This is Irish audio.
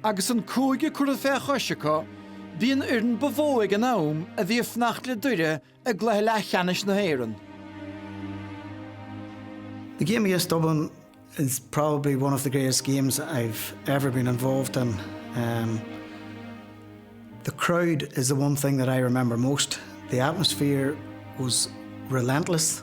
Agus an cúige curtha fé chois acu, bhí an fhoireann ba mhó le rá ag an am a bhí ag fanacht le Doire i gcluiche leathcheannais na hÉireann. The game against Dublin is probably one of the greatest games I've ever been involved in. Um, the crowd is the one thing that I remember most. The atmosphere was relentless.